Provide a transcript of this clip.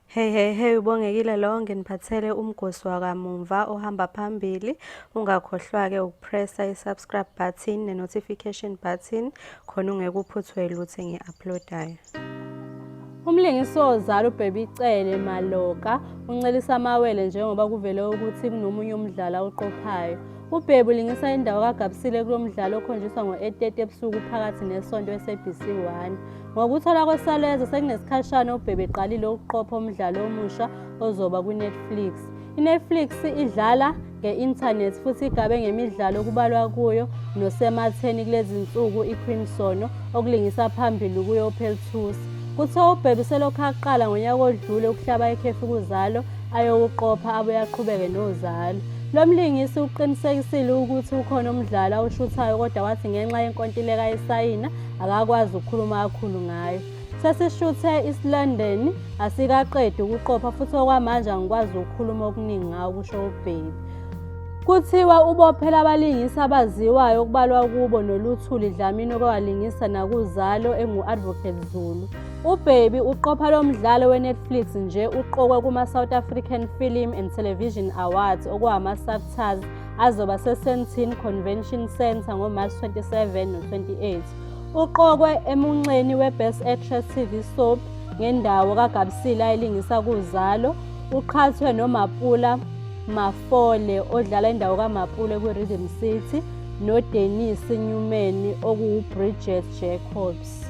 Hey hey hey ubongekile lo nginiphathele umgosi wakamumva ohamba phambili ungakhohlwa ke ukupressa i-subscribe button ne-notification button khona ungekuphuthwe lutho engi-uploadayo Umlingisi ozala uBaby Cele Maloka uncelisa amawele njengoba kuvele ukuthi kunomunye umdlalo awuqophayo. UBaby ulingisa indawo kaGabsile kulo mdlalo okhonjiswa ngo-8:30 ebusuku phakathi nesonto eSABC 1. Ngokuthola kweSaleza sekunesikhashana uBhebe eqalile ukuqopha umdlalo omusha ozoba kwiNetflix. INetflix idlala nge-internet futhi igabe ngemidlalo okubalwa kuyo nosematheni kulezi nsuku iCrimson okulingisa phambili kuyo uPeltus. Kuthiwa uBhebe selokhu aqala ngonyaka odlule ukuhlaba ikhefu kuzalo ayokuqopha abuye aqhubeke nozalo. Lo mlingisi uqinisekisile ukuthi ukhona umdlalo awushuthayo kodwa wathi ngenxa yenkontileka ayisayina akakwazi ukukhuluma kakhulu ngayo sesishuthe isilondeni asikaqedi ukuqopha futhi okwamanje angikwazi ukukhuluma okuningi ngawo kusho ubhebi kuthiwa ubophela abalingisi abaziwayo okubalwa kubo noluthuli dlamini okwalingisa nakuzalo engu-advocate zulu ubhebi uqopha lo mdlalo wenetflix nje uqokwe kuma-south african film and television awards okuwama-subtars azoba seSentin Convention Centre ngoMarch 27 no-28. Uqokwe emunxeni weBest Actress TV Soap ngendawo kaGabsile ayilingisa kuZalo. Uqhathwe noMapula Mafole odlala indawo kaMapule kwi-Rhythm City noDenise Newman okuwuBridget Jacobs.